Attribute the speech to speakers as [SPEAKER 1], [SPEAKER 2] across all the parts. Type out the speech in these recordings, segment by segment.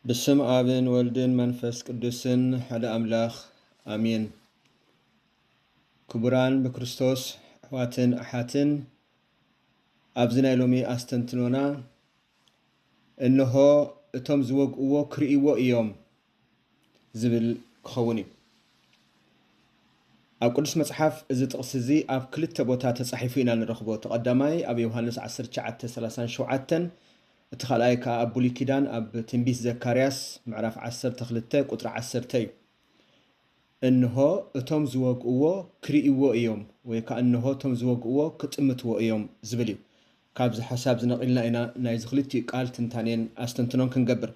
[SPEAKER 1] ብስም ኣብን ወልድን መንፈስ ቅዱስን ሓደ ኣምላኽ ኣሜን። ክቡራን ብክርስቶስ ኣሕዋትን ኣሓትን ኣብዚ ናይ ሎሚ ኣስተንትኖና እነሆ እቶም ዝወግእዎ ክርእይዎ እዮም ዝብል ክኸውን እዩ። ኣብ ቅዱስ መጽሓፍ እዚ ጥቕሲ እዚ ኣብ ክልተ ቦታ ተጻሒፉ ኢና ንረኽቦ። እቲ ቀዳማይ ኣብ ዮሃንስ ዓሰርተ ትሽዓተ ሰላሳን ሸውዓተን እቲ ካልኣይ ከኣ ኣብ ብሉይ ኪዳን ኣብ ትንቢት ዘካርያስ ምዕራፍ ዓሰርተ ክልተ ቁጽሪ ዓሰርተ እዩ። እንሆ እቶም ዝወግእዎ ክርእይዎ እዮም ወይ ከኣ እንሆ እቶም ዝወግእዎ ክጥምትዎ እዮም ዝብል እዩ። ካብዚ ሓሳብ እዚ ነቒልና ኢና ናይዚ ክልቲኡ ቃል ትንታኔን ኣስተንትኖን ክንገብር።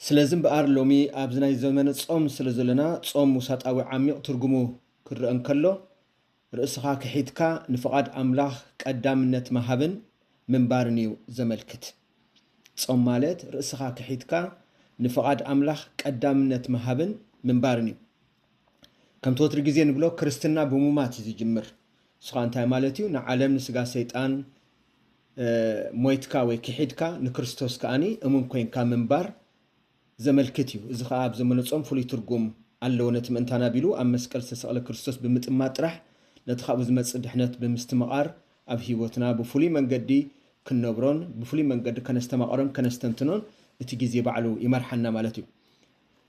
[SPEAKER 1] ስለዚ እምበኣር ሎሚ ኣብዚ ናይ ዘመነ ጾም ስለ ዘለና ጾም ውሳጣዊ ዓሚቕ ትርጉሙ ክረኣ እንከሎ ርእስኻ ክሒድካ ንፍቓድ ኣምላኽ ቀዳምነት ምሃብን ምንባርን እዩ ዘመልክት። ጾም ማለት ርእስኻ ክሒድካ ንፍቓድ ኣምላኽ ቀዳምነት ምሃብን ምንባርን እዩ። ከምቲ ወትሪ ግዜ ንብሎ ክርስትና ብሙማት እዩ ዝጅምር። ንሱ እንታይ ማለት እዩ? ንዓለም ንስጋ ሰይጣን ሞይትካ ወይ ክሒድካ ንክርስቶስ ከኣ እሙን ኮይንካ ምንባር ዘመልክት እዩ። እዚ ከኣ ኣብ ዘመነ ጾም ፍሉይ ትርጉም ኣለዎ፣ ነቲ ምእንታና ቢሉ ኣብ መስቀል ዝተሰቕለ ክርስቶስ ብምጥማት ጥራሕ ነቲ ካብኡ ዝመጽእ ድሕነት ብምስትምቓር ኣብ ሕይወትና ብፍሉይ መንገዲ ክንነብሮን ብፍሉይ መንገዲ ከነስተማቕሮን ከነስተንትኖን እቲ ጊዜ ባዕሉ ይመርሓና ማለት እዩ።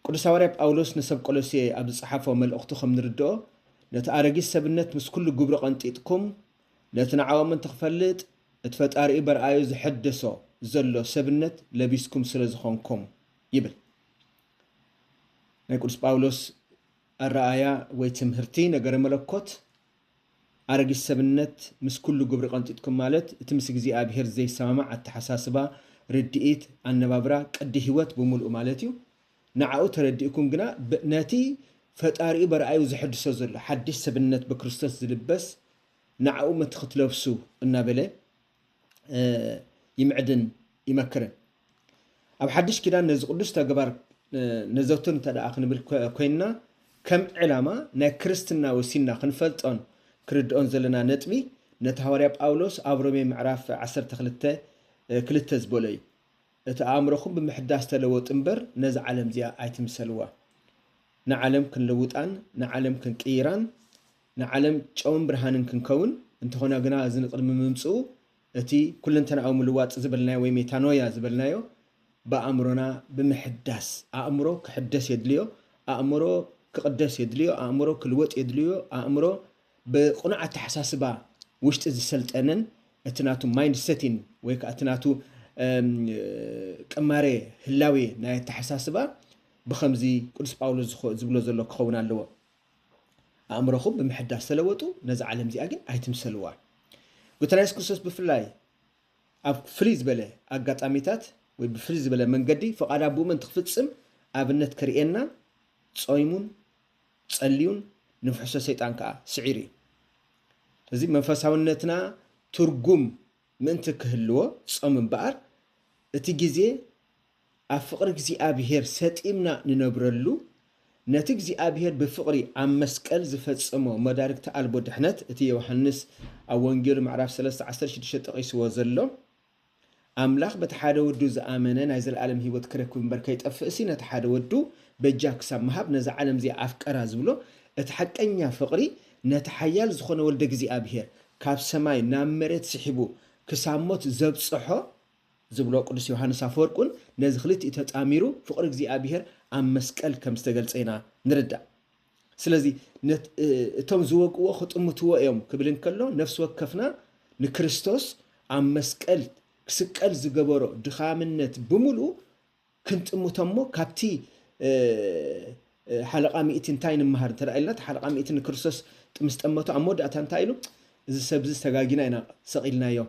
[SPEAKER 1] ቅዱስ ሃዋርያ ጳውሎስ ንሰብ ቆሎሴ ኣብ ዝጸሓፎ መልእኽቱ ከም ንርድኦ ነቲ ኣረጊት ሰብነት ምስ ኩሉ ግብሩ ቀንጢጥኩም ነቲ ንዓኦም እንትክፈልጥ እቲ ፈጣሪኡ በርኣዩ ዘሐደሶ ዘሎ ሰብነት ለቢስኩም ስለ ዝኮንኩም ይብል። ናይ ቅዱስ ጳውሎስ ኣረኣእያ ወይ ትምህርቲ ነገረ መለኮት ኣረጊት ሰብነት ምስ ኩሉ ግብሪ ቀንጢጥኩም ማለት እቲ ምስ እግዚኣብሔር ዘይሰማማዕ ኣተሓሳስባ፣ ርድኢት፣ ኣነባብራ፣ ቅዲ ሕይወት ብምሉኡ ማለት እዩ። ንዓኡ ተረዲእኩም ግና ነቲ ፈጣሪኡ በርኣዩ ዘሐድሶ ዘሎ ሓድሽ ሰብነት ብክርስቶስ ዝልበስ ንዓኡ መትክትለብሱ እናበለ ይምዕድን ይመክርን። ኣብ ሓድሽ ኪዳን ነዚ ቅዱስ ተግባር ነዘውትር እንተደኣ ክንብል ኮይንና ከም ዕላማ ናይ ክርስትና ወሲንና ክንፈልጦን ክርድኦን ዘለና ነጥቢ ነቲ ሃዋርያ ጳውሎስ ኣብ ሮሜ ምዕራፍ ዓሰርተ ክልተ ክልተ ዝበሎ እዩ። እቲ ኣእምሮኹም ብምሕዳስ ተለወጡ እምበር ነዛ ዓለም እዚኣ ኣይትምሰልዋ። ንዓለም ክንልውጣን ንዓለም ክንቅይራን ንዓለም ጨውን ብርሃንን ክንከውን እንተኾና ግና እዚ ንቅድሚ ምምጽኡ እቲ ኩለንተናኣዊ ምልዋጥ ዝበልናዮ ወይ ሜታኖያ ዝበልናዮ ብኣእምሮና ብምሕዳስ ኣእምሮ ክሕደስ የድልዮ ኣእምሮ ክቅደስ የድልዮ ኣእምሮ ክልወጥ የድልዮ ኣእምሮ ብቅኑዕ ኣተሓሳስባ ውሽጢ ዝሰልጠነን እቲ ናቱ ማይንድ ሰቲን ወይ ከኣ እቲ ናቱ ቅማሬ ህላዌ ናይ ኣተሓሳስባ ብኸምዚ ቅዱስ ጳውሎስ ዝብሎ ዘሎ ክኸውን ኣለዎ፣ ኣእምሮኹም ብምሕዳስ ተለወጡ፣ ነዛ ዓለም እዚኣ ግን ኣይትምሰልዋ። ጎይታና የሱስ ክርስቶስ ብፍላይ ኣብ ፍልይ ዝበለ ኣጋጣሚታት ወይ ብፍልይ ዝበለ መንገዲ ፍቓድ ኣቦኡ ምእንቲ ክፍጽም ኣብነት ከርእየና ጾይሙን ጸልዩን ንፍሕሶ ሰይጣን ከኣ ስዒሩ እዩ። ስለዚ መንፈሳውነትና ትርጉም ምእንቲ ክህልዎ ጾም እምበኣር እቲ ግዜ ኣብ ፍቕሪ እግዚኣብሄር ሰጢምና ንነብረሉ ነቲ እግዚኣብሄር ብፍቕሪ ኣብ መስቀል ዝፈጸሞ መዳርግቲ ኣልቦ ድሕነት እቲ ዮውሃንስ ኣብ ወንጌሉ ምዕራፍ ሰለስተ ዓሰርተ ሽዱሽተ ጠቒስዎ ዘሎ ኣምላኽ በቲ ሓደ ወዱ ዝኣመነ ናይ ዘለኣለም ህይወት ክረክብ እምበር ከይጠፍእሲ ነቲ ሓደ ወዱ በጃ ክሳብ ምሃብ ነዛ ዓለም እዚኣ ኣፍቀራ ዝብሎ እቲ ሓቀኛ ፍቕሪ ነቲ ሓያል ዝኾነ ወልደ እግዚኣኣብሔር ካብ ሰማይ ናብ መሬት ስሒቡ ክሳብ ሞት ዘብጽሖ ዝብሎ ቅዱስ ዮሓንስ ኣፈወርቅውን ነዚ ክልቲኡ ተጣሚሩ ፍቕሪ እግዚኣኣብሔር ኣብ መስቀል ከም ዝተገልጸ ኢና ንርዳእ። ስለዚ እቶም ዝወግእዎ ክጥምትዎ እዮም ክብል እንከሎ ነፍሲ ወከፍና ንክርስቶስ ኣብ መስቀል ክስቀል ዝገበሮ ድኻምነት ብምልኡ ክንጥምቶ እሞ ካብቲ ሓለቓ ሚእቲ እንታይ ንመሃር እንተ ኢልና እቲ ሓለቓ ሚእቲ ንክርስቶስ ምስ ጠመቶ ኣብ መወዳእታ እንታይ ኢሉ እዚ ሰብዚ ዝተጋጊና ኢና ሰቒልናዮ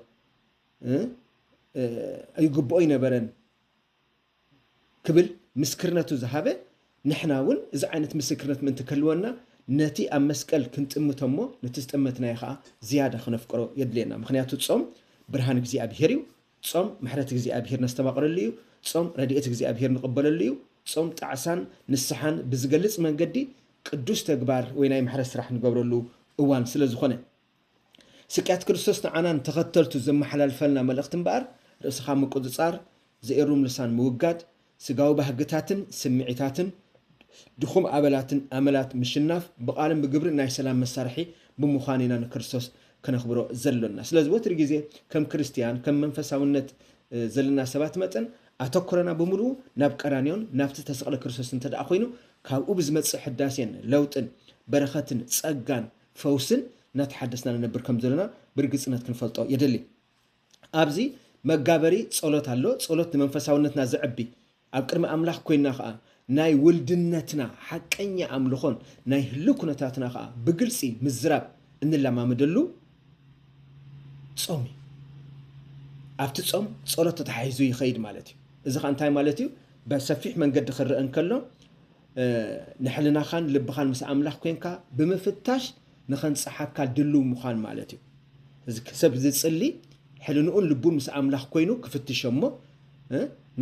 [SPEAKER 1] ኣይግብኦ ኣይነበረን ክብል ምስክርነቱ ዝሃበ፣ ንሕና እውን እዚ ዓይነት ምስክርነት ምእንቲ ክህልወና ነቲ ኣብ መስቀል ክንጥምቶ እሞ ነቲ ዝጠመትናዮ ኸኣ ዝያዳ ክነፍቅሮ የድልየና። ምኽንያቱ ጾም ብርሃን እግዚኣብሄር እዩ። ጾም ምሕረት እግዚኣብሄር ነስተማቕረሉ እዩ። ጾም ረድኤት እግዚኣብሄር ንቕበለሉ እዩ። ጾም ጣዕሳን ንስሓን ብዝገልጽ መንገዲ ቅዱስ ተግባር ወይ ናይ ምሕረት ስራሕ ንገብረሉ እዋን ስለ ዝኾነ። ስቅያት ክርስቶስ ንዓና ንተኸተልቱ ዘመሓላልፈልና መልእኽቲ እምበኣር፣ ርእስኻ ምቁጽጻር፣ ዘኤሩም ልሳን ምውጋድ፣ ስጋዊ ባህግታትን ስምዒታትን ድኹም ኣበላትን ኣመላት ምሽናፍ፣ ብቓልን ብግብርን ናይ ሰላም መሳርሒ ብምዃን ኢና ንክርስቶስ ከነኽብሮ ዘሎና። ስለዚ ወትሪ ግዜ ከም ክርስትያን ከም መንፈሳውነት ዘለና ሰባት መጠን ኣተኩሮና ብምሉኡ ናብ ቀራንዮን ናብቲ ዝተሰቕለ ክርስቶስን እንተደኣ ኮይኑ ካብኡ ብዝመጽእ ሕዳሴን ለውጥን በረኸትን ጸጋን ፈውስን እናተሓደስና ንነብር ከም ዘሎና ብርግጽነት ክንፈልጦ የድሊ። ኣብዚ መጋበሪ ጸሎት ኣሎ፣ ጸሎት ንመንፈሳውነትና ዘዕቢ፣ ኣብ ቅድሚ ኣምላኽ ኮይንና ከኣ ናይ ውልድነትና ሓቀኛ ኣምልኾን ናይ ህልው ኩነታትና ከኣ ብግልጺ ምዝራብ እንለማመደሉ ጾም እዩ። ኣብቲ ጾም ጸሎት ተተሓሒዙ ይኸይድ ማለት እዩ። እዚ ከኣ እንታይ ማለት እዩ? በሰፊሕ መንገዲ ክረአ እንከሎ ንሕልናኻን ልብኻን ምስ ኣምላኽ ኴንካ ብምፍታሽ ንኸንጽሓካ ድሉው ምዃን ማለት እዩ። እዚ ሰብ ዝጽሊ ሕልንኡን ልቡን ምስ ኣምላኽ ኮይኑ ክፍትሽ እሞ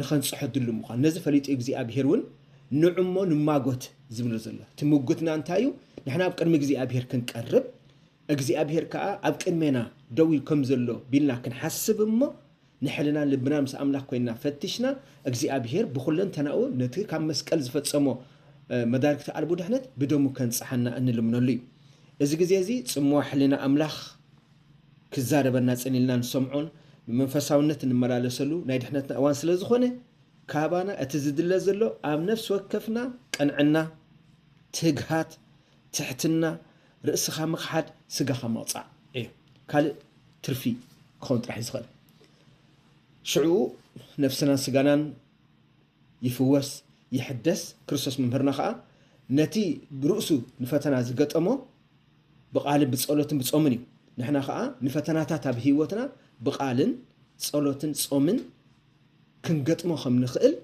[SPEAKER 1] ንኸንጽሖ ድሉው ምዃን ነዚ ፈሊጡ እግዚኣብሄር እውን ንዑ እሞ ንማጎት ዝብሎ ዘሎ እቲ ምጉትና እንታይ እዩ? ንሕና ኣብ ቅድሚ እግዚኣብሄር ክንቀርብ እግዚኣብሄር ከዓ ኣብ ቅድሜና ደው ኢሉ ከም ዘሎ ቢልና ክንሓስብ እሞ ንሕልናን ልብናን ምስ ኣምላኽ ኮይንና ፈቲሽና እግዚኣብሄር ብኹለንተናኡ ነቲ ካብ መስቀል ዝፈጸሞ መዳርግቲ ኣልቦ ድሕነት ብደሙ ከንጽሓና እንልምነሉ እዩ። እዚ ግዜ እዚ ጽምዋ ሕልና ኣምላኽ ክዛረበና ጽን ኢልና ንሰምዖን ብመንፈሳውነት እንመላለሰሉ ናይ ድሕነትና እዋን ስለ ዝኾነ ካባና እቲ ዝድለ ዘሎ ኣብ ነፍሲ ወከፍና ቅንዕና፣ ትግሃት፣ ትሕትና፣ ርእስኻ ምኽሓድ ስጋኻ ምቕጻዕ እዩ ካልእ ትርፊ ክኸውን ጥራሕ እዩ ዝኽእል ሽዑ ነፍስናን ስጋናን ይፍወስ ይሕደስ ክርስቶስ መምህርና ከዓ ነቲ ብርእሱ ንፈተና ዝገጠሞ ብቃልን ብፀሎትን ብፆምን እዩ ንሕና ከዓ ንፈተናታት ኣብ ህይወትና ብቃልን ፀሎትን ፆምን ክንገጥሞ ከም ንኽእል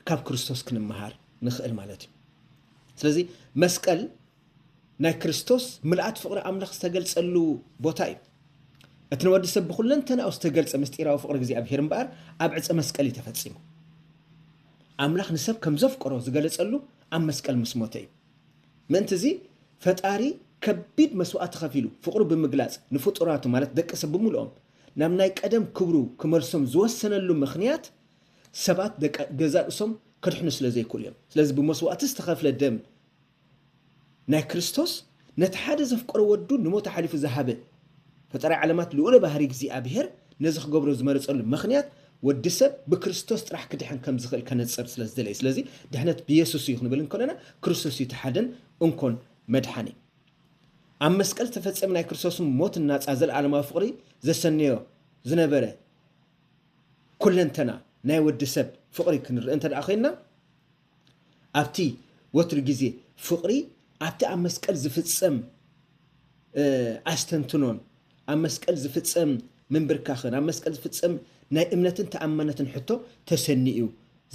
[SPEAKER 1] ካብ ክርስቶስ ክንመሃር ንኽእል ማለት እዩ ስለዚ መስቀል ናይ ክርስቶስ ምልኣት ፍቕሪ ኣምላኽ ዝተገልጸሉ ቦታ እዩ እቲ ንወዲ ሰብ ብኩለንተናኡ ዝተገልጸ ምስጢራዊ ፍቕሪ እግዚኣብሄር እምበኣር ኣብ ዕፀ መስቀል እዩ ተፈጺሙ ኣምላኽ ንሰብ ከም ዘፍቀሮ ዝገለጸሉ ኣብ መስቀል ምስ ሞተ እዩ ምእንቲ እዚ ፈጣሪ ከቢድ መስዋእቲ ከፊሉ ፍቕሩ ብምግላጽ ንፍጡራቱ ማለት ደቂ ሰብ ብምልኦም ናብ ናይ ቀደም ክብሩ ክመልሶም ዝወሰነሉ ምኽንያት ሰባት ደቂ ገዛእ ርእሶም ከድሕኑ ስለ ዘይክእሉ እዮም። ስለዚ ብመስዋእቲ ዝተኸፍለ ደም ናይ ክርስቶስ ነቲ ሓደ ዘፍቀሮ ወዱ ንሞት ኣሓሊፉ ዝሃበ ፈጣሪ ዓለማት ልኡለ ባህሪ እግዚኣብሔር ነዚ ክገብሮ ዝመረጸሉ ምኽንያት ወዲ ሰብ ብክርስቶስ ጥራሕ ክድሕን ከም ዝኽእል ከነጽር ስለ ዝደለየ ስለዚ ድሕነት ብየሱስ እዩ ክንብል እንከለና ክርስቶስ እዩ ተሓደን እንኮን መድሓኒ ኣብ መስቀል ዝተፈጸመ ናይ ክርስቶስን ሞትን ናጻ ዘለዓለማዊ ፍቕሪ ዘሰነዮ ዝነበረ ኩለንተና ናይ ወዲ ሰብ ፍቕሪ ክንርኢ እንተደኣ ኮይንና፣ ኣብቲ ወትሩ ግዜ ፍቕሪ ኣብቲ ኣብ መስቀል ዝፍጸም ኣስተንትኖን፣ ኣብ መስቀል ዝፍጸም ምንብርካኽን፣ ኣብ መስቀል ዝፍጸም ናይ እምነትን ተኣማነትን ሕቶ ተሰንዩ እዩ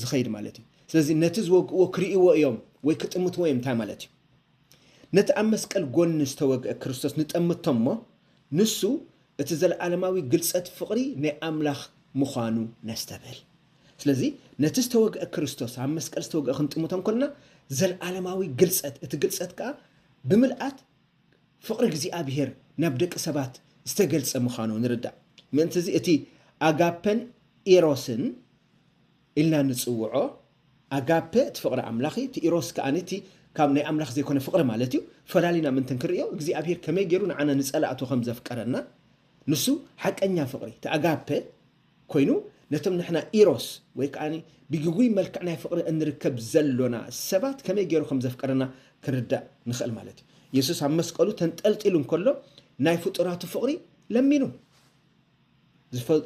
[SPEAKER 1] ዝኸይድ ማለት እዩ። ስለዚ ነቲ ዝወግእዎ ክርእይዎ እዮም ወይ ክጥምትዎ እዮም እንታይ ማለት እዩ? ነቲ ኣብ መስቀል ጎኒ ዝተወግአ ክርስቶስ ንጠምቶ እሞ ንሱ እቲ ዘለኣለማዊ ግልጸት ፍቕሪ ናይ ኣምላኽ ምዃኑ ነስተብህል። ስለዚ ነቲ ዝተወግአ ክርስቶስ፣ ኣብ መስቀል ዝተወግአ ክንጥምቶ እንከሎና፣ ዘለኣለማዊ ግልጸት፣ እቲ ግልጸት ከኣ ብምልኣት ፍቕሪ እግዚኣብሄር ናብ ደቂ ሰባት ዝተገልጸ ምዃኑ ንርዳእ። ምእንትዚ እቲ ኣጋፐን ኤሮስን ኢልና ንጽውዖ ኣጋፐ እቲ ፍቕሪ ኣምላኽ እዩ፣ እቲ ኢሮስ ከኣ እቲ ካብ ናይ ኣምላኽ ዘይኮነ ፍቕሪ ማለት እዩ። ፈላሊና ምእንቲ ንክንርእዮ እግዚኣብሄር ከመይ ገይሩ ንዓና ንጸላእቱ ከም ዘፍቀረና ንሱ ሓቀኛ ፍቕሪ እቲ ኣጋፐ ኮይኑ ነቶም ንሕና ኢሮስ ወይ ከኣ ብግጉይ መልክዕ ናይ ፍቕሪ እንርከብ ዘሎና ሰባት ከመይ ገይሩ ከም ዘፍቀረና ክንርዳእ ንኽእል ማለት እዩ። የሱስ ኣብ መስቀሉ ተንጠልጢሉ እንከሎ ናይ ፍጡራቱ ፍቕሪ ለሚኑ።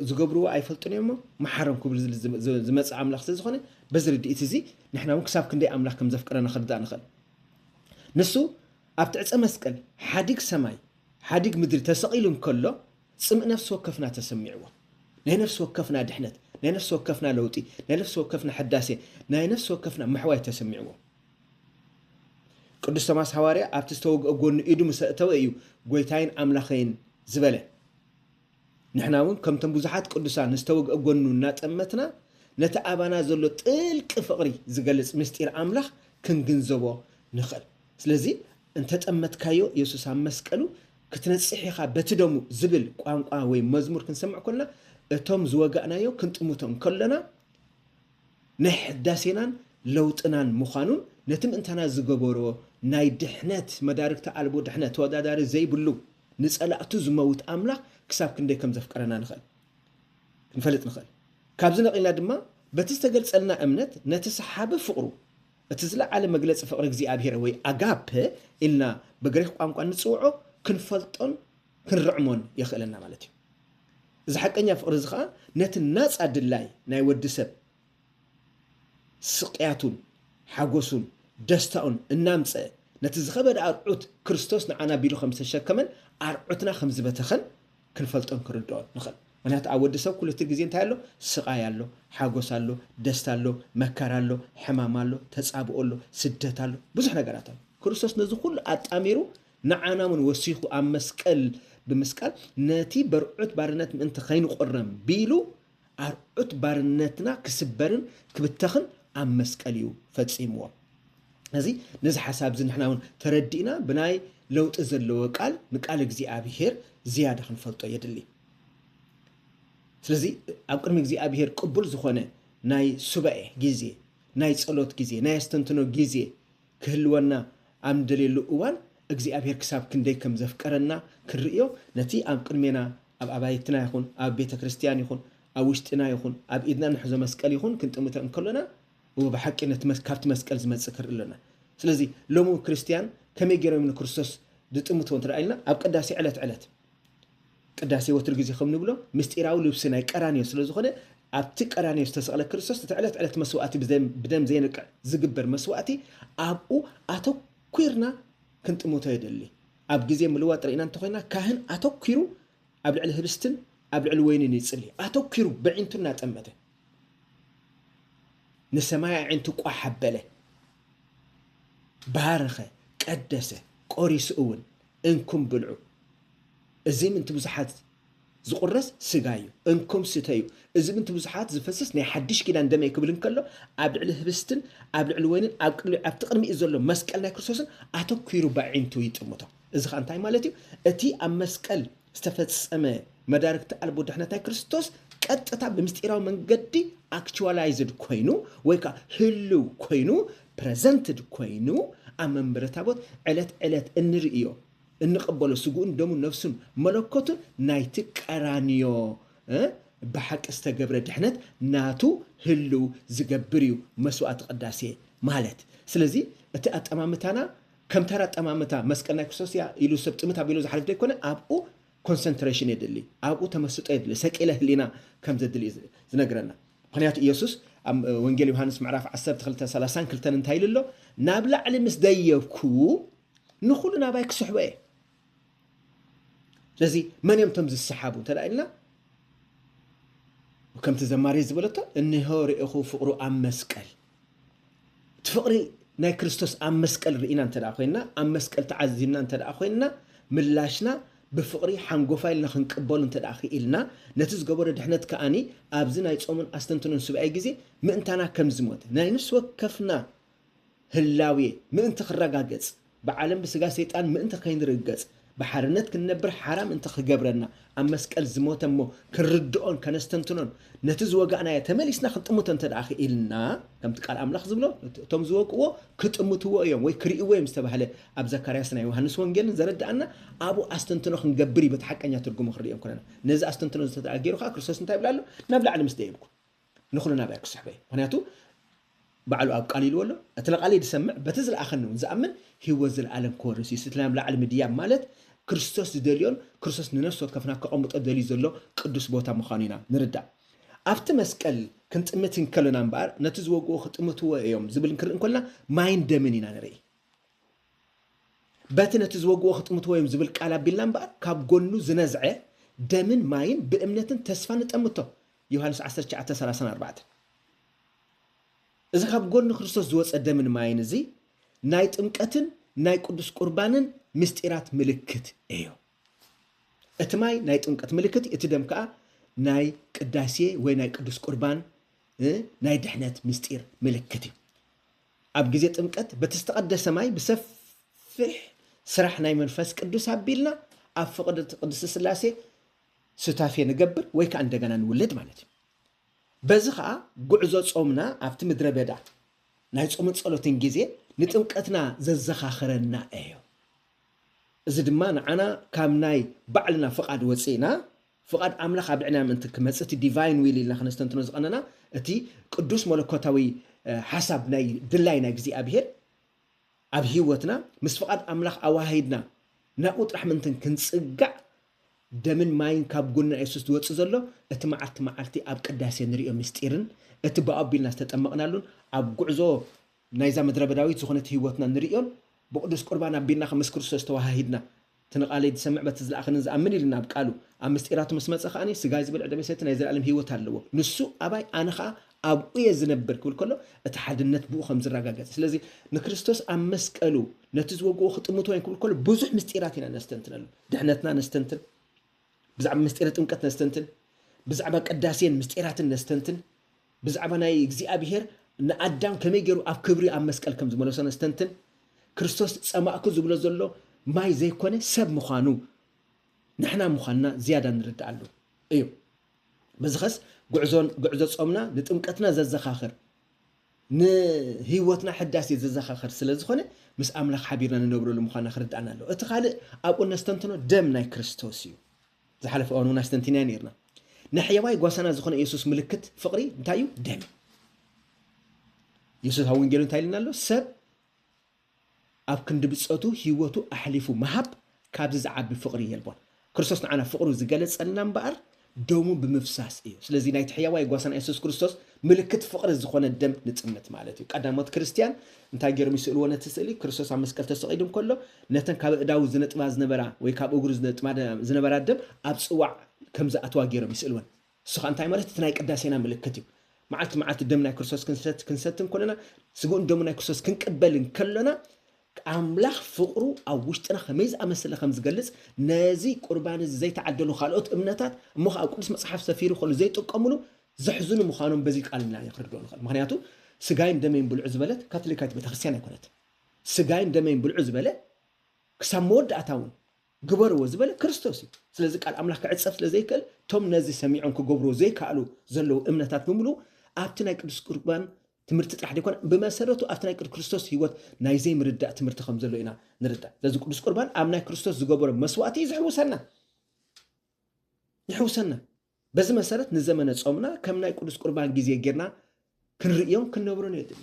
[SPEAKER 1] ዝገብርዎ ኣይፈልጡን እዮምሞ መሓሮም ክብል ዝመፅእ ኣምላኽ ስለዝኾነ በዚ ርድኢት እዚ ንሕና እውን ክሳብ ክንደይ ኣምላኽ ከም ዘፍቅረና ክርዳእ ንኽእል ንሱ ኣብ ትዕፀ መስቀል ሓዲግ ሰማይ ሓዲግ ምድሪ ተሰቒሉ እንከሎ ፅምእ ነፍሲ ወከፍና ተሰሚዕዎ ናይ ነፍሲ ወከፍና ድሕነት ናይ ነፍሲ ወከፍና ለውጢ ናይ ነፍሲ ወከፍና ሕዳሴ ናይ ነፍሲ ወከፍና ምሕዋይ ተሰሚዕዎ ቅዱስ ቶማስ ሃዋርያ ኣብቲ ዝተወግአ ጎኑ ኢዱ ምስ ኣእተወ እዩ ጎይታይን ኣምላኸይን ዝበለ ንሕና እውን ከምቶም ብዙሓት ቅዱሳን ዝተወግአ ጎኑ እናጠመትና ነቲ ኣባና ዘሎ ጥልቂ ፍቕሪ ዝገልጽ ምስጢር ኣምላኽ ክንግንዘቦ ንኽእል። ስለዚ እንተጠመትካዮ የሱስ ኣብ መስቀሉ ክትነጽሕ ኢኻ በቲ ደሙ ዝብል ቋንቋ ወይ መዝሙር ክንሰምዕ ኮና እቶም ዝወጋእናዮ ክንጥምቶም ከሎና ናይ ሕዳሴናን ለውጥናን ምዃኑን ነቲ ምእንታና ዝገበሮ ናይ ድሕነት መዳርግቲ ኣልቦ ድሕነት ተወዳዳሪ ዘይብሉ ንጸላእቱ ዝመውት ኣምላኽ ክሳብ ክንደይ ከም ዘፍቀረና ንኽእል ክንፈልጥ ንኽእል። ካብዚ ነቒልና ድማ በቲ ዝተገልጸልና እምነት ነቲ ሰሓቢ ፍቕሩ እቲ ዝለዓለ መግለጺ ፍቕሪ እግዚኣብሄር ወይ ኣጋፐ ኢልና ብግሪኽ ቋንቋ እንጽውዖ ክንፈልጦን ክንርዕሞን የኽእለና ማለት እዩ። እዚ ሓቀኛ ፍቕሪ እዚ ኸኣ ነቲ ናጻ ድላይ ናይ ወዲ ሰብ ስቕያቱን ሓጐሱን ደስታኡን እናምጸ ነቲ ዝኸበደ ኣርዑት ክርስቶስ ንዓና ቢሉ ከም ዝተሸከመን ኣርዑትና ከም ዝበተኸን ክንፈልጦን ክንርድኦን ንኽእል። ምኽንያቱ ኣብ ወዲ ሰብ ኩሉቲ ግዜ እንታይ ኣሎ? ስቓይ ኣሎ፣ ሓጐስ ኣሎ፣ ደስታ ኣሎ፣ መከራ ኣሎ፣ ሕማም ኣሎ፣ ተጻብኦ ኣሎ፣ ስደት ኣሎ፣ ብዙሕ ነገራት ኣሎ። ክርስቶስ ነዚ ኩሉ ኣጣሚሩ ንዓና እውን ወሲኹ ኣብ መስቀል ብምስቃል ነቲ በርዑት ባርነት ምእንቲ ከይንቑረም ቢሉ ኣርዑት ባርነትና ክስበርን ክብተኽን ኣብ መስቀል እዩ ፈጺምዎ። እዚ ነዚ ሓሳብ እዚ ንሕና እውን ተረዲእና ብናይ ለውጢ ዘለዎ ቃል ንቃል እግዚኣብሄር ዝያዳ ክንፈልጦ የድሊ። ስለዚ ኣብ ቅድሚ እግዚኣብሄር ቅቡል ዝኾነ ናይ ሱባኤ ግዜ፣ ናይ ጸሎት ግዜ፣ ናይ ኣስተንትኖ ግዜ ክህልወና ኣብ ንደልየሉ እዋን እግዚኣብሔር ክሳብ ክንደይ ከም ዘፍቀረና ክንርእዮ ነቲ ኣብ ቅድሜና ኣብ ኣባይትና ይኹን ኣብ ቤተ ክርስቲያን ይኹን ኣብ ውሽጢና ይኹን ኣብ ኢድና እንሕዞ መስቀል ይኹን ክንጥምተ እንከሎና እወ ብሓቂ ነቲ ካብቲ መስቀል ዝመጽእ ክንርኢ ኣሎና ስለዚ ሎሚ ክርስቲያን ከመይ ገይሮም ንክርስቶስ ዝጥምትዎ እንተ ኢልና ኣብ ቅዳሴ ዕለት ዕለት ቅዳሴ ወትሩ ግዜ ከም ንብሎ ምስጢራዊ ልብሲ ናይ ቀራንዮ ስለ ዝኾነ ኣብቲ ቀራንዮ ዝተሰቕለ ክርስቶስ እቲ ዕለት ዕለት መስዋእቲ ብደም ዘይነቅዕ ዝግበር መስዋእቲ ኣብኡ ኣተኲርና ክንጥምቶ የድሊ። ኣብ ግዜ ምልዋጥ ርኢና እንተኾይና ካህን ኣተኲሩ ኣብ ልዕሊ ህብስትን ኣብ ልዕሊ ወይንን ይጽሊ ኣተኲሩ በዒንቱ እናጠመተ ንሰማይ ኣዒንቱ ቋሕ ኣበለ ባረኸ ቀደሰ ቆሪሱ እውን እንኩም ብልዑ፣ እዚ ምእንቲ ብዙሓት ዝቝረስ ስጋይ እዩ፣ እንኩም ስተዩ፣ እዚ ምእንቲ ብዙሓት ዝፈስስ ናይ ሓድሽ ኪዳን ደመይ ክብል እንከሎ፣ ኣብ ልዕሊ ህብስትን ኣብ ልዕሊ ወይንን ኣብ ቅድሚ ኣብቲ ቅድሚኡ ዘሎ መስቀል ናይ ክርስቶስን ኣተኲሩ በዒንቱ ይጥምቶ። እዚ ኸኣ እንታይ ማለት እዩ? እቲ ኣብ መስቀል። ዝተፈጸመ መዳርግቲ ኣልቦ ድሕነት ናይ ክርስቶስ ቀጥታ ብምስጢራዊ መንገዲ ኣክቹዋላይዝድ ኮይኑ ወይ ከዓ ህልው ኮይኑ ፕረዘንትድ ኮይኑ ኣብ መንበረ ታቦት ዕለት ዕለት እንርእዮ እንቕበሎ ስጉኡን ደሙን ነፍሱን መለኮቱን ናይቲ ቀራንዮ ብሓቂ ዝተገብረ ድሕነት ናቱ ህልው ዝገብር እዩ መስዋእቲ ቅዳሴ ማለት ስለዚ እቲ ኣጠማምታና ከም ተራ ጠማምታ መስቀል ናይ ክርስቶስ እያ ኢሉ ሰብ ጥምት ኣቢሉ ዝሓልፍ ዘይኮነ ኣብኡ ኮንሰንትሬሽን የድሊ፣ ኣብኡ ተመስጦ የድሊ፣ ሰቂለ ህሊና ከም ዘድሊ እዩ ዝነግረና። ምክንያቱ ኢየሱስ ኣብ ወንጌል ዮሃንስ ምዕራፍ ዓሰርተ ክልተ ሰላሳን ክልተን እንታይ ኢሉ ኣሎ? ናብ ላዕሊ ምስ ደየብኩ ንኹሉ ናባይ ክስሕቦ እየ። ስለዚ መን እዮም እቶም ዝሰሓቡ እንተ ኢልና ከምቲ ዘማሪ ዝበለቶ እንሆ ርኢኹ ፍቕሩ ኣብ መስቀል እቲ ፍቕሪ ናይ ክርስቶስ ኣብ መስቀል ርኢና እንተ ኮይንና ኣብ መስቀል ተዓዚምና እንተ ኮይንና ምላሽና ብፍቕሪ ሓንጎፋ ኢልና ክንቅበሉ እንተ ክኢልና ነቲ ዝገበሮ ድሕነት ከዓኒ ኣብዚ ናይ ጾምን ኣስተንትኖን ሱባኤ ግዜ ምእንታና ከም ዝሞተ ናይ ነፍሲ ወከፍና ህላዌ ምእንቲ ክረጋገጽ፣ ብዓለም ብስጋ ሰይጣን ምእንቲ ከይንርገጽ፣ ብሓርነት ክንነብር ሓራ ምእንቲ ክገብረና፣ ኣብ መስቀል ዝሞተ እሞ ክንርድኦን ከነስተንትኖን፣ ነቲ ዝወጋእናዮ ተመሊስና ክንጥምቶ እንተድኣ ክኢልና፣ ከምቲ ቃል ኣምላኽ ዝብሎ እቶም ዝወግእዎ ክጥምትዎ እዮም ወይ ክርእይዎ እዮም ዝተባህለ ኣብ ዘካርያስን ናይ ዮሃንስ ወንጌልን ዘረድኣና ኣብኡ ኣስተንትኖ ክንገብር እዩ በቲ ሓቀኛ ትርጉሙ ክንርእዮም ከለና። ነዚ ኣስተንትኖ እዚ እንተድኣ ገይሩ ከኣ ክርስቶስ እንታይ ይብል ኣሎ? ናብ ላዕሊ ምስ ደየብኩ። ንኹሉ ናብያ ክስሕቦ እየ ምኽንያቱ ባዕሉ ኣብ ቃል ኢልዎ ኣሎ እቲ ንቃለይ ዝሰምዕ በቲ ዝለኣኸኒ እውን ዝኣምን ህይወት ዘለኣለም ክወርስ እዩ ስቲ ናብ ላዕሊ ምድያብ ማለት ክርስቶስ ዝደልዮን ክርስቶስ ንነፍሲ ወከፍና ከቐምጦ ደልዩ ዘሎ ቅዱስ ቦታ ምዃኑ ኢና ንርዳእ ኣብቲ መስቀል ክንጥምት እንከሎና እምበኣር ነቲ ዝወግኡ ክጥምትዎ እዮም ዝብል እንክርኢ እንኮልና ማይን ደምን ኢና ንርኢ በቲ ነቲ ዝወግኡ ክጥምትዎ እዮም ዝብል ቃል ኣቢልና እምበኣር ካብ ጎኑ ዝነዝዐ ደምን ማይን ብእምነትን ተስፋ ንጠምቶ ዮሃንስ ዓሰርተ ትሽዓተ ሰላሳን ኣርባዕተን እዚ ካብ ጎኒ ክርስቶስ ዝወፀ ደምን ማይን እዚ ናይ ጥምቀትን ናይ ቅዱስ ቁርባንን ምስጢራት ምልክት እዩ። እቲ ማይ ናይ ጥምቀት ምልክት እቲ ደም ከዓ ናይ ቅዳሴ ወይ ናይ ቅዱስ ቁርባን ናይ ድሕነት ምስጢር ምልክት እዩ። ኣብ ግዜ ጥምቀት በቲ ዝተቐደሰ ማይ ብሰፊሕ ስራሕ ናይ መንፈስ ቅዱስ ኣቢልና ኣብ ፍቕድቲ ቅድስቲ ስላሴ ሱታፌ ንገብር ወይ ከኣ እንደገና ንውለድ ማለት እዩ። በዚ ከኣ ጉዕዞ ጾምና ኣብቲ ምድረ በዳ ናይ ጾምን ጸሎትን ግዜ ንጥምቀትና ዘዘኻኽረና እዩ። እዚ ድማ ንዓና ካብ ናይ ባዕልና ፍቓድ ወጺእና ፍቓድ ኣምላኽ ኣብ ልዕና ምእንቲ ክመጽእ እቲ ዲቫይን ዊል ኢልና ከነስተንትኖ ዝቐነና እቲ ቅዱስ መለኮታዊ ሓሳብ ናይ ድላይ ናይ እግዚኣብሄር ኣብ ህይወትና ምስ ፍቓድ ኣምላኽ ኣዋሂድና ናብኡ ጥራሕ ምእንቲ ክንጽጋዕ ደምን ማይን ካብ ጎንና የሱስ ዝወጽእ ዘሎ እቲ መዓልቲ መዓልቲ ኣብ ቅዳሴ ንርእዮ ምስጢርን እቲ ብኣኡ ኣቢልና ዝተጠመቕናሉን ኣብ ጉዕዞ ናይዛ ምድረበዳዊት ዝኾነት ሕይወትና ንርእዮን ብቅዱስ ቁርባን ኣቢልና ከምስ ክርስቶስ ተወሃሂድና እቲ ንቃለይ ዝሰምዕ በቲ ዝለኣኸንን ዝኣምን ኢልና ኣብ ቃሉ ኣብ ምስጢራቱ ምስ መጸ ከኣ ስጋይ ዝብልዕ ደመይ ዝሰቲ ናይ ዘለኣለም ሕይወት ኣለዎ ንሱ ኣባይ ኣነ ከኣ ኣብኡ'የ ዝነብር ክብል ከሎ እቲ ሓድነት ብኡ ከም ዝረጋገጽ እዩ። ስለዚ ንክርስቶስ ኣብ መስቀሉ ነቲ ዝወግኦ ክጥምቶ እዮም ክብል ከሎ ብዙሕ ምስጢራት ኢና ነስተንትነሉ። ድሕነትና ነስተንትን፣ ብዛዕባ ምስጢረ ጥምቀት ነስተንትን፣ ብዛዕባ ቅዳሴን ምስጢራትን ነስተንትን፣ ብዛዕባ ናይ እግዚኣብሄር ንኣዳም ከመይ ገይሩ ኣብ ክብሪ ኣብ መስቀል ከም ዝመለሶ ነስተንትን፣ ክርስቶስ ጸማእኩ ዝብሎ ዘሎ ማይ ዘይኮነ ሰብ ምዃኑ ንሕና ምዃንና ዝያዳ ንርድኣሉ እዩ። በዚኸስ ጉዕዞን ጉዕዞ ጾምና ንጥምቀትና ዘዘኻኽር ንህይወትና ሕዳሴ ዘዘኻኽር ስለ ዝኾነ ምስ ኣምላኽ ሓቢርና ንነብረሉ ምዃንና ክርድኣና ኣለዎ። እቲ ካልእ ኣብኡ እነስተንትኖ ደም ናይ ክርስቶስ እዩ። ዝሓለፈ እዋን እውን ኣስተንቲናዮ ነይርና። ንሕየዋይ ጓሳና ዝኾነ ኢየሱስ ምልክት ፍቕሪ እንታይ እዩ? ደም እዩ። ኢየሱስ ኣብ ወንጌሉ እንታይ ኢልና ኣሎ? ሰብ ኣብ ክንዲ ብጸቱ ህይወቱ ኣሕሊፉ ምሃብ ካብዚ ዝዓቢ ፍቕሪ የልቦን። ክርስቶስ ንዓና ፍቕሩ ዝገለጸልና እምበኣር ደሙ ብምፍሳስ እዩ። ስለዚ ናይቲ ሕያዋይ ጓሳና የሱስ ክርስቶስ ምልክት ፍቕሪ ዝኾነ ደም ንጽምት ማለት እዩ። ቀዳሞት ክርስትያን እንታይ ገይሮም ይስእልዎ ነቲ ስእሊ? ክርስቶስ ኣብ መስቀል ተሰቒሉ እንከሎ ነተን ካብ ኣእዳዉ ዝነጥባ ዝነበራ ወይ ካብ እግሩ ዝነጥባ ዝነበራ ደም ኣብ ጽዋዕ ከም ዝኣትዋ ገይሮም ይስእልወን። ንሱኻ እንታይ ማለት እቲ ናይ ቅዳሴና ምልክት እዩ። መዓልቲ መዓልቲ ደም ናይ ክርስቶስ ክንሰቲ እንኮለና ስግኡን ደሙ ናይ ክርስቶስ ክንቅበል እንከሎና ኣምላኽ ፍቕሩ ኣብ ውሽጥና ከመይ ዝኣመስለ ከም ዝገልጽ ነዚ ቁርባን እዚ ዘይተዓደሉ ካልኦት እምነታት እሞ ከዓ ቅዱስ መጽሓፍ ሰፊሩ ከሉ ዘይጥቀምሉ ዘሕዝኑ ምዃኖም በዚ ቃል ኢና ክንርድኦ ንኽእል ምክንያቱ ስጋይን ደመይን ብልዑ ዝበለት ካቶሊካዊት ቤተክርስትያን ኣይኮነት ስጋይን ደመይን ብልዑ ዝበለ ክሳብ መወዳእታ እውን ግበርዎ ዝበለ ክርስቶስ እዩ። ስለዚ ቃል ኣምላኽ ክዕጸፍ ስለ ዘይክእል እቶም ነዚ ሰሚዖም ክገብርዎ ዘይከኣሉ ዘለዉ እምነታት ብምልኡ ኣብቲ ናይ ቅዱስ ቁርባን ትምህርቲ ጥራሕ ዘይኮነ ብመሰረቱ ኣብቲ ናይ ቅዱስ ክርስቶስ ህይወት ናይ ዘይምርዳእ ትምህርቲ ከም ዘሎ ኢና ንርዳእ። ስለዚ ቅዱስ ቁርባን ኣብ ናይ ክርስቶስ ዝገበሮ መስዋእቲ እዩ ዝሕውሰና ይሕውሰና። በዚ መሰረት ንዘመነ ጾምና ከም ናይ ቅዱስ ቁርባን ግዜ ጌርና ክንርእዮን ክንነብሮን የድሊ።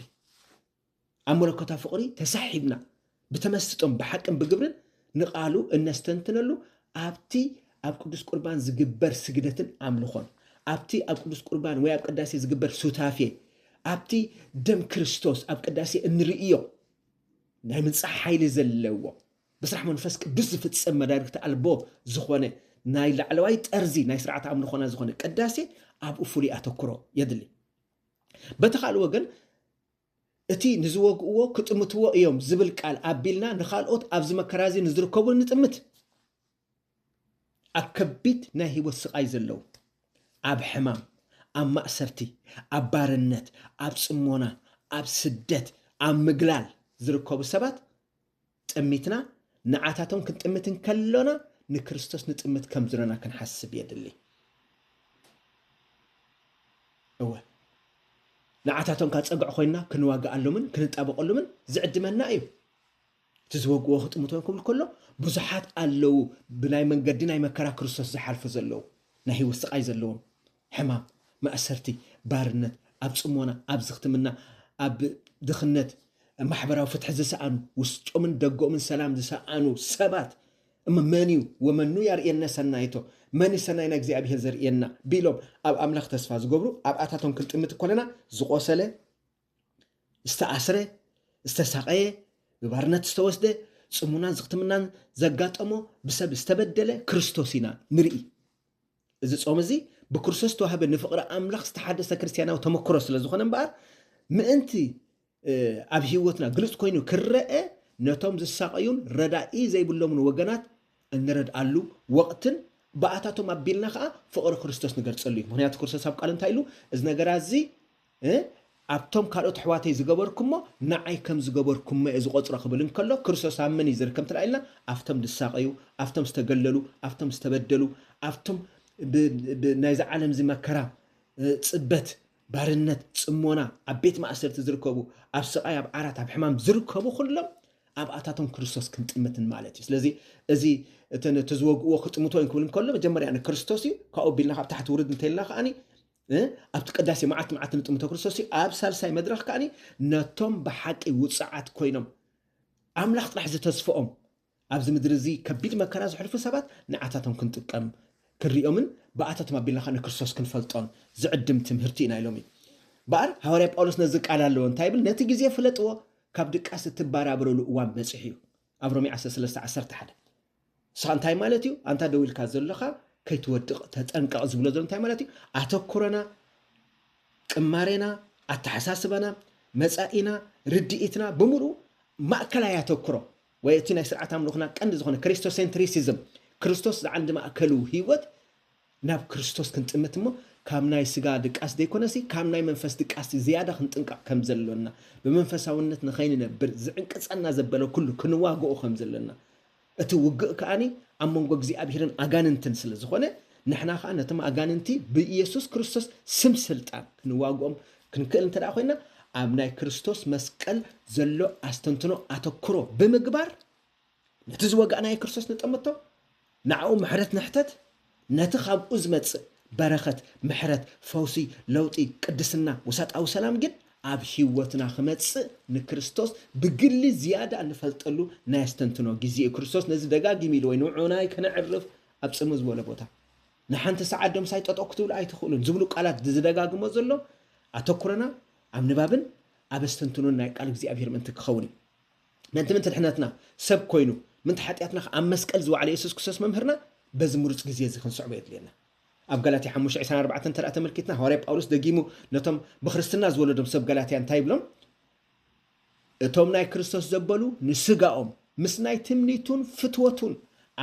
[SPEAKER 1] ኣብ መለኮታዊ ፍቕሪ ተሳሒብና ብተመስጦን ብሓቅን ብግብርን ንቓሉ እነስተንትነሉ ኣብቲ ኣብ ቅዱስ ቁርባን ዝግበር ስግደትን ኣምልኾን ኣብቲ ኣብ ቅዱስ ቁርባን ወይ ኣብ ቅዳሴ ዝግበር ሱታፌ ኣብቲ ደም ክርስቶስ ኣብ ቅዳሴ እንርእዮ ናይ ምንጻሕ ሓይሊ ዘለዎ ብስራሕ መንፈስ ቅዱስ ዝፍጸም መዳርግቲ ኣልቦ ዝኾነ ናይ ላዕለዋይ ጠርዚ ናይ ስርዓት ኣምልኾና ዝኾነ ቅዳሴ ኣብኡ ፍሉይ ኣተኩሮ የድሊ። በቲ ካልእ ወገን እቲ ንዝወግእዎ ክጥምትዎ እዮም ዝብል ቃል ኣቢልና ንካልኦት ኣብዚ መከራ እዚ ንዝርከቡ ንጥምት። ኣብ ከቢድ ናይ ህይወት ስቓይ ዘለዉ፣ ኣብ ሕማም፣ ኣብ ማእሰርቲ፣ ኣብ ባርነት፣ ኣብ ጽሞና፣ ኣብ ስደት፣ ኣብ ምግላል ዝርከቡ ሰባት ጥሚትና ንዓታቶም ክንጥምት እንከሎና ንክርስቶስ ንጥምት ከም ዝሎና ክንሓስብ የድሊ። እወ ንዓታቶም ካብ ጸግዕ ኮይንና ክንዋግኣሎምን ክንጣበቐሎምን ዝዕድመና እዩ። እቲ ዝበግዎ ክጥምቶም ክብል ከሎ ብዙሓት ኣለዉ ብናይ መንገዲ ናይ መከራ ክርስቶስ ዝሓልፉ ዘለዉ ናይ ህይወት ስቓይ ዘለዎም ሕማም ማእሰርቲ ባርነት ኣብ ጽሞና ኣብ ዝኽትምና ኣብ ድኽነት ማሕበራዊ ፍትሒ ዝሰኣኑ ውስጦምን ደገኦምን ሰላም ዝሰኣኑ ሰባት እሞ መን እዩ ወመኑ ያርእየነ ሰናይቶ መን እዩ ሰናይ ናይ እግዚኣብሄር ዘርእየና ቢሎም ኣብ ኣምላኽ ተስፋ ዝገብሩ ኣብኣታቶም ክንጥምት ኮለና ዝቖሰለ ዝተኣስረ፣ ዝተሳቐየ፣ ንባርነት ዝተወስደ፣ ጽሙናን ዝኽትምናን ዘጋጠሞ፣ ብሰብ ዝተበደለ ክርስቶስ ኢና ንርኢ። እዚ ጾም እዚ ብክርስቶስ ዝተዋህበ ንፍቕሪ ኣምላኽ ዝተሓደሰ ክርስትያናዊ ተመክሮ ስለ ዝኾነ እምበኣር ምእንቲ ኣብ ህይወትና ግልጽ ኮይኑ ክረአ ነቶም ዝሳቐዩን ረዳኢ ዘይብሎምን ወገናት እንረድኣሉ ወቕትን ብኣታቶም ኣቢልና ከዓ ፍቕሪ ክርስቶስ ንገልጸሉ እዩ ምክንያቱ ክርስቶስ ኣብ ቃሉ እንታይ ኢሉ እዚ ነገራ እዚ እ ኣብቶም ካልኦት ኣሕዋተይ ዝገበርኩሞ ንዓይ ከም ዝገበርኩሞ እየ ዝቖጽሮ ክብል እንከሎ ክርስቶስ ኣብ መን እዩ ዝርከብ እንተ ኢልና ኣብቶም ዝሳቐዩ ኣብቶም ዝተገለሉ ኣብቶም ዝተበደሉ ኣብቶም ብ ብ ናይዚ ዓለም እዚ መከራ ጽበት ባርነት ጽሞና ኣብ ቤት ማእሰርቲ ዝርከቡ ኣብ ስቓይ ኣብ ዓራት ኣብ ሕማም ዝርከቡ ኩሎም ኣብኣታቶም ክርስቶስ ክንጥምትን ማለት እዩ ስለዚ እዚ እቲ ዝወግእዎ ክጥምቶ እዮም ክብል እንከሎ መጀመርያ ንክርስቶስ እዩ ካብኡ ቢልና ካብ ታሕቲ ውርድ እንተልና ከዓኒ እ ኣብቲ ቅዳሴ መዓልቲ መዓልቲ ንጥምተ ክርስቶስ እዩ። ኣብ ሳልሳይ መድረኽ ከኣ ነቶም ብሓቂ ውጹዓት ኮይኖም ኣምላኽ ጥራሕ ዝተስፍኦም ኣብዚ ምድሪ እዚ ከቢድ መከራ ዘሕልፉ ሰባት ንዓታቶም ክንጥቀም ክንሪኦምን ብኣታቶም ኣቢልና ከዓ ንክርስቶስ ክንፈልጦን ዝዕድም ትምህርቲ ኢና ኢሎም እዩ በኣር ሃዋርያ ጳውሎስ ነዚ ቃል ኣለዎ እንታይ ይብል ነቲ ግዜ ፍለጥዎ ካብ ድቃስ እትባራብረሉ እዋን በፂሑ እዩ ኣብ ሮሜ 13 11 ንስኻ እንታይ ማለት እዩ ኣንታ ደው ኢልካ ዘለኻ ከይትወድቕ ተጠንቀቕ ዝብሎ ዘሎ እንታይ ማለት እዩ ኣተኩረና ቅማሬና ኣተሓሳስባና መጻኢና ርድኢትና ብምሉእ ማእከላይ ኣተኩሮ ወይ እቲ ናይ ስርዓት ኣምልኽና ቀንዲ ዝኾነ ክሪስቶሴንትሪሲዝም ክርስቶስ ዝዓንዲ ማእከሉ ህይወት ናብ ክርስቶስ ክንጥምት እሞ ካብ ናይ ስጋ ድቃስ ዘይኮነሲ ካብ ናይ መንፈስ ድቃስ ዝያዳ ክንጥንቀቕ ከም ዘሎና ብመንፈሳውነት ንኸይንነብር ዝዕንቅጸና ዘበለ ኩሉ ክንዋግኦ ከም ዘሎና እቲ ውግእ ከኣኒ ኣብ መንጎ እግዚኣብሔርን ኣጋንንትን ስለ ዝኾነ ንሕና ከኣ ነቶም ኣጋንንቲ ብኢየሱስ ክርስቶስ ስም ስልጣን ክንዋግኦም ክንክእል እንተ ደኣ ኮይና ኣብ ናይ ክርስቶስ መስቀል ዘሎ ኣስተንትኖ ኣተኩሮ ብምግባር ነቲ ዝወጋእናዮ ክርስቶስ ንጠምቶ፣ ንኣኡ ምሕረት ንሕተት፣ ነቲ ካብኡ ዝመጽእ በረኸት፣ ምሕረት፣ ፈውሲ፣ ለውጢ፣ ቅድስና፣ ውሳጣዊ ሰላም ግን ኣብ ህይወትና ክመጽእ ንክርስቶስ ብግሊ ዝያዳ ንፈልጠሉ ናይ ኣስተንትኖ ግዜ'ዩ። ክርስቶስ ነዚ ደጋጊሙ ኢልዎ'ዩ፣ ንዑናይ ከነዕርፍ ኣብ ጽምው ዝበለ ቦታ ንሓንቲ ሰዓት ዶ ምሳይ ጠጠው ክትብሉ ኣይትኽእሉን ዝብሉ ቃላት ዝደጋግሞ ዘሎ ኣተኩሮና ኣብ ንባብን ኣብ ኣስተንትኖን ናይ ቃል እግዚኣብሔር ምእንቲ ክኸውን እዩ። ምእንቲ ምእንቲ ድሕነትና ሰብ ኮይኑ ምእንቲ ሓጢኣትና ከኣ ኣብ መስቀል ዝወዓለ የሱስ ክርስቶስ መምህርና በዚ ምሩጽ ግዜ እዚ ክንስዕቦ የድልየና። ኣብ ጋላትያ ሓሙሽተ ዕስራን ኣርባዕተን እንተ ተመልኪትና ሃዋርያ ጳውሎስ ደጊሙ ነቶም ብክርስትና ዝወለዶም ሰብ ጋላትያ እንታይ ይብሎም? እቶም ናይ ክርስቶስ ዘበሉ ንስጋኦም ምስ ናይ ትምኒቱን ፍትወቱን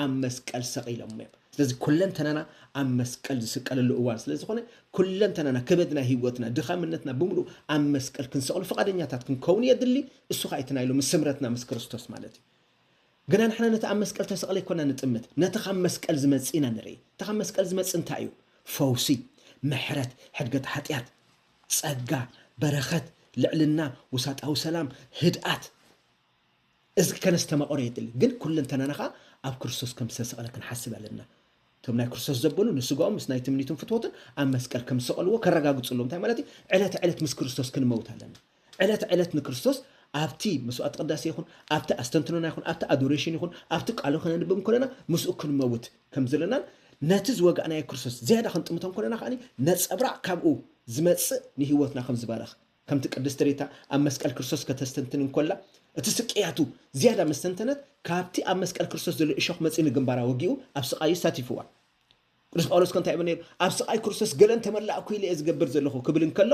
[SPEAKER 1] ኣብ መስቀል ሰቒሎሞ እዮም። ስለዚ ኩለንተናና ኣብ መስቀል ዝስቀለሉ እዋን ስለ ዝኾነ ኩለንተናና ከበድና ህይወትና ድኻምነትና ብምሉኡ ኣብ መስቀል ክንሰቕሎ ፍቓደኛታት ክንከውን የድሊ። እሱ ኸኣ እቲ ናይ ሎሚ ስምረትና ምስ ክርስቶስ ማለት እዩ። ግና ንሕና ነቲ ኣብ መስቀል ተሰቕለ ኣይኮና ንጥምት፣ ነቲ ካብ መስቀል ዝመጽእ ኢና ንርኢ። እቲ ካብ መስቀል ዝመጽእ እንታይ እዩ? ፈውሲ፣ ምሕረት፣ ሕድገት ሓጢኣት፣ ጸጋ፣ በረኸት፣ ልዕልና፣ ውሳጣዊ ሰላም፣ ህድኣት፣ እዚ ከነስተማቕሮ የድሊ፣ ግን ኩለንተናና ከኣ ኣብ ክርስቶስ ከም ዝተሰቕለ ክንሓስብ ኣለና። እቶም ናይ ክርስቶስ ዘበሉ ንስጋኦም ምስ ናይ ትምኒቱን ፍትወቱን ኣብ መስቀል ከም ዝሰቐልዎ ከረጋግጹ ኣለዎም። እንታይ ማለት እዩ? ዕለተ ዕለት ምስ ክርስቶስ ክንመውት ኣለና። ዕለተ ዕለት ንክርስቶስ ኣብቲ መስዋዕቲ ቅዳሴ ይኹን፣ ኣብቲ ኣስተንትኖና ይኹን፣ ኣብቲ ኣዶሬሽን ይኹን፣ ኣብቲ ቃሉ ከነንብብ እንከለና ምስኡ ክንመውት ከም ዘለናን ነቲ ዝወጋእናዮ ክርስቶስ ዝያዳ ክንጥምቶ እንከለና ከኣ ነጸብራቕ ካብኡ ዝመጽእ ንህይወትና ከም ዝባርኽ ከምቲ ቅድስቲ ሪታ ኣብ መስቀል ክርስቶስ ከተስተንትን እንኮላ እቲ ስቅያቱ ዝያዳ ምስ ተንተነት ካብቲ ኣብ መስቀል ክርስቶስ ዘሎ እሾኽ መጺኡ ንግንባራ ወጊኡ ኣብ ስቃዩ ኣሳቲፍዋ ቅዱስ ጳውሎስ ከ እንታይ ይብል ነይሩ ኣብ ስቃይ ክርስቶስ ገለን ተመላእኩ ኢለ እየ ዝገብር ዘለኹ ክብል እንከሎ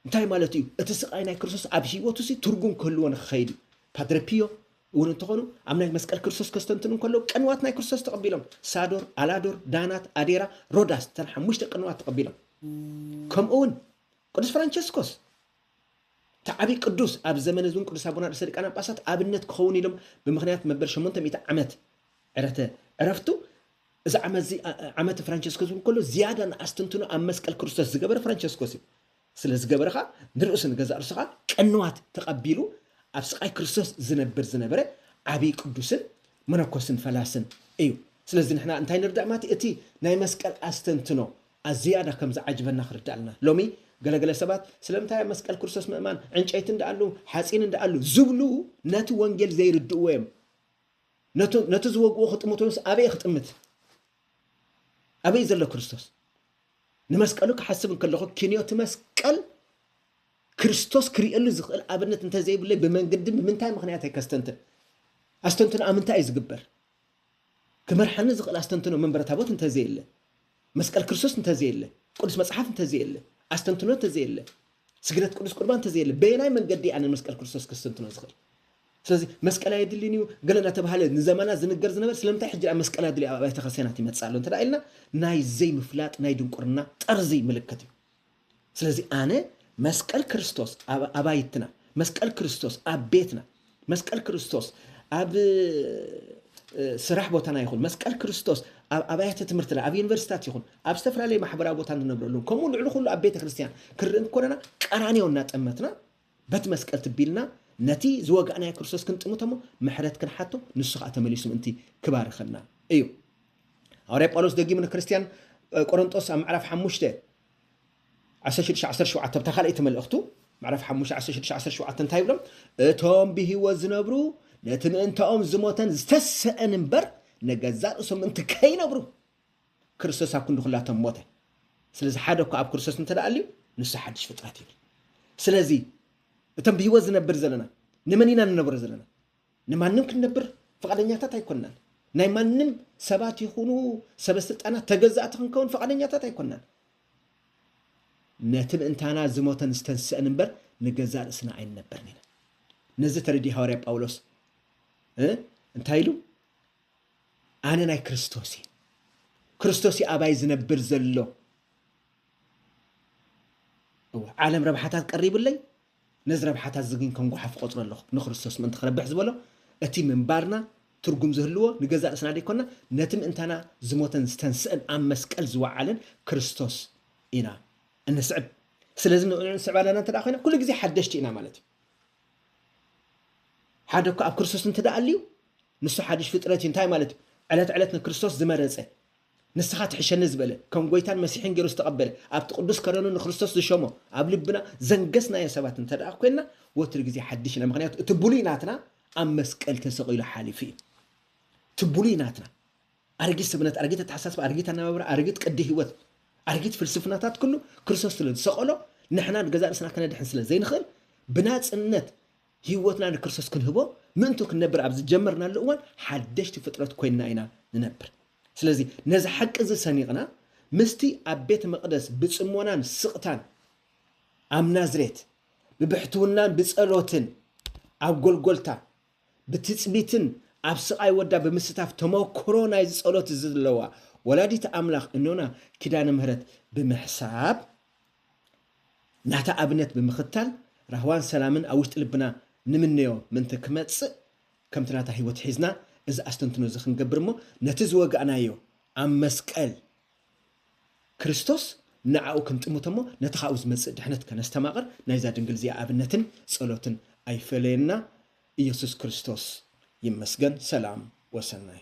[SPEAKER 1] እንታይ ማለት እዩ እቲ ስቃይ ናይ ክርስቶስ ኣብ ህይወቱ ሲ ትርጉም ክህልዎ ንክኸይድ እዩ ፓድረ ፒዮ እውን እንተኾኑ ኣብ ናይ መስቀል ክርስቶስ ከስተንትኑ እንከለዉ ቅንዋት ናይ ክርስቶስ ተቐቢሎም ሳዶር ኣላዶር ዳናት ኣዴራ ሮዳስ ተን ሓሙሽተ ቅንዋት ተቐቢሎም ከምኡ እውን ቅዱስ ፍራንቸስኮስ እቲ ዓብዪ ቅዱስ ኣብ ዘመነ ዝን ቅዱስ ኣቡና ርእሰ ሊቃነ ጳጳሳት ኣብነት ክኸውን ኢሎም ብምኽንያት መበል ሸሞንተ ሚእቲ ዓመት ዕረተ ዕረፍቱ እዚ ዓመት እዚ ዓመት ፍራንቸስኮስ ዝብል ከሎ ዝያዳ ንኣስተንትኖ ኣብ መስቀል ክርስቶስ ዝገበረ ፍራንቸስኮስ እዩ ስለ ዝገበረ ከዓ ንርእሱ ንገዛእ ርእሱ ከዓ ቅንዋት ተቐቢሉ ኣብ ስቃይ ክርስቶስ ዝነብር ዝነበረ ዓብዪ ቅዱስን መነኮስን ፈላስን እዩ ስለዚ ንሕና እንታይ ንርዳእ ማለት እቲ ናይ መስቀል ኣስተንትኖ ኣዝያዳ ከም ዝዓጅበና ክርዳኣልና። ሎሚ ገለ ገለ ሰባት ስለምንታይ ኣብ መስቀል ክርስቶስ ምእማን ዕንጨይቲ እንድኣሉ ሓጺን እንድኣሉ ዝብሉ ነቲ ወንጌል ዘይርድእዎ እዮም። ነቲ ነቲ ዝወግእዎ ክጥምቱ ወይስ ኣበይ ክጥምት? ኣበይ ዘሎ ክርስቶስ? ንመስቀሉ ክሓስብ እንከለኹ ክንዮ እቲ መስቀል ክርስቶስ ክርእየሉ ዝኽእል ኣብነት እንተዘይብለይ ብመንገዲ ብምንታይ ምኽንያት ኣይከስተንትን? ኣስተንትኖ ኣብ ምንታይ እዩ ዝግበር? ክመርሓኒ ዝኽእል ኣስተንትኖ መንበረ ታቦት እንተዘየለ፣ መስቀል ክርስቶስ እንተዘየለ፣ ቅዱስ መጽሓፍ እንተዘየለ፣ ኣስተንትኖ እንተዘየለ፣ ስግደት ቅዱስ ቁርባን እንተዘየለ፣ በየናይ መንገዲ እየ ኣነ ንመስቀል ክርስቶስ ከስተንትኖ ዝኽእል? ስለዚ መስቀል ኣየድልን እዩ ገለ እናተባሃለ ንዘመናት ዝንገር ዝነበረ ስለምንታይ ሕጂ ኣብ መስቀል ኣድልዩ ኣብ ኣብያተ ክርስቲያናት ይመጽእ ኣሎ እንተ ኢልና ናይ ዘይምፍላጥ ናይ ድንቁርና ጠርዚ ምልክት እዩ። ስለዚ ኣነ መስቀል ክርስቶስ ኣብ ኣባይትና፣ መስቀል ክርስቶስ ኣብ ቤትና፣ መስቀል ክርስቶስ ኣብ ስራሕ ቦታና ይኹን፣ መስቀል ክርስቶስ ኣብ ኣብያተ ትምህርትና፣ ኣብ ዩኒቨርሲታት ይኹን፣ ኣብ ዝተፈላለዩ ማሕበራዊ ቦታ እንነብረሉን፣ ከምኡ ልዕሊ ኩሉ ኣብ ቤተ ክርስቲያን ክርኢ እንኮለና ቀራንዮ እናጠመትና በቲ መስቀል ትቢልና ነቲ ዝወጋእናዮ ክርስቶስ ክንጥምቶ እሞ ምሕረት ክንሓቶ ንሱ ከዓ ተመሊሱ ምእንቲ ክባርኸና እዩ። ሃዋርያ ጳውሎስ ደጊሙ ንክርስትያን ቆሮንጦስ ኣብ ምዕራፍ ሓሙሽተ ዓሰርተ ሽዱሽተ ዓሰርተ ሸውዓተ ኣብታ ካልኣይቲ መልእኽቱ ምዕራፍ ሓሙሽተ ዓሰርተ ሽዱሽተ ዓሰርተ ሸውዓተ እንታይ ይብሎም እቶም ብህይወት ዝነብሩ ነቲ ምእንታኦም ዝሞተን ዝተሰአን እምበር ንገዛእ ርእሶም ምእንቲ ከይነብሩ ክርስቶስ ኣብ ክንዲ ኩላቶም ሞተ ስለዚ ሓደ እኳ ኣብ ክርስቶስ እንተ ኣልዩ ንሱ ሓድሽ ፍጥረት ይብል ስለዚ እቶም ብህይወት ዝነብር ዘለና ንመን ኢና ንነብሮ ዘለና ንማንም ክንነብር ፍቓደኛታት ኣይኮናን። ናይ ማንም ሰባት ይኹኑ ሰበስልጣናት ተገዛእቲ ክንከውን ፍቓደኛታት ኣይኮናን። ነቲ ምእንታና ዝሞተን ዝተንስእን እምበር ንገዛእ ርእስና ኣይንነብርን ኢና። ነዚ ተረዲኡ ሃዋርያ ጳውሎስ እንታይ ኢሉ? ኣነ ናይ ክርስቶስ እየ፣ ክርስቶስ እዩ ኣባይ ዝነብር ዘሎ። ዓለም ረብሓታት ቀሪቡለይ ነዚ ረብሓታት እዚ ግን ከም ጓሓፍ እቖጽሮ ኣለኹ። ንክርስቶስ ምእንቲ ክረብሕ ዝበሎ፣ እቲ ምንባርና ትርጉም ዝህልዎ ንገዛእ ርእስና ደይኰንና፣ ነቲ ምእንታና ዝሞተን ዝተንስእን ኣብ መስቀል ዝወዓለን ክርስቶስ ኢና እንስዕብ። ስለዚ ንዕኡ ንስዕብ ኣለና እንተ ደኣ ኰይና፣ ኵሉ ግዜ ሓደሽቲ ኢና ማለት እዩ። ሓደ እኳ ኣብ ክርስቶስ እንተ ደኣ ኣልዩ፣ ንሱ ሓድሽ ፍጥረት እዩ። እንታይ ማለት እዩ? ዕለት ዕለት ንክርስቶስ ዝመረጸ፣ ንስኻ ትሕሸኒ ዝበለ፣ ከም ጐይታን መሲሕን ገይሩ ዝተቐበለ፣ ኣብቲ ቅዱስ ከረኑ ንክርስቶስ ዝሸሞ፣ ኣብ ልብና ዘንገስናዮ ሰባት እንተድኣ ኰይንና፣ ወትሩ ግዜ ሓድሽ ኢና። ምኽንያቱ እቲ ብሉይ ናትና ኣብ መስቀል ተሰቒሉ ሓሊፉ እዩ። እቲ ብሉይ ናትና፣ ኣረጊት ሰብነት፣ ኣረጊት ኣተሓሳስባ፣ ኣረጊት ኣነባብራ፣ ኣረጊት ቅዲ ህይወት፣ ኣረጊት ፍልስፍናታት ኩሉ ክርስቶስ ስለ ዝሰቐሎ፣ ንሕና ንገዛእ ርእስና ከነድሕን ስለ ዘይንኽእል፣ ብናጽነት ህይወትና ንክርስቶስ ክንህቦ፣ ምእንቱ ክንነብር ኣብ ዝጀመርናሉ እዋን ሓደሽቲ ፍጥረት ኰይንና ኢና ንነብር። ስለዚ ነዚ ሓቂ እዚ ሰኒቕና ምስቲ ኣብ ቤት መቕደስ ብጽሞናን ስቕታን ኣብ ናዝሬት ብብሕትውናን ብጸሎትን ኣብ ጎልጎልታ ብትጽቢትን ኣብ ስቓይ ወዳ ብምስታፍ ተመክሮ ናይዚ ጸሎት እዚ ዘለዋ ወላዲት ኣምላኽ እኖና ኪዳነ ምህረት ብምሕሳብ ናታ ኣብነት ብምኽታል ራህዋን ሰላምን ኣብ ውሽጢ ልብና ንምነዮ ምእንቲ ክመጽእ ከምቲ ናታ ሕይወት ሒዝና እዚ ኣስተንትኖ እዚ ክንገብር እሞ ነቲ ዝወጋእናዮ ኣብ መስቀል ክርስቶስ ንኣኡ ክንጥምቶ እሞ ነቲ ካብኡ ዝመጽእ ድሕነት ከነስተማቕር ናይዛ ድንግል እዚኣ ኣብነትን ጸሎትን ኣይፈለየና ኢየሱስ ክርስቶስ ይመስገን ሰላም ወሰናይ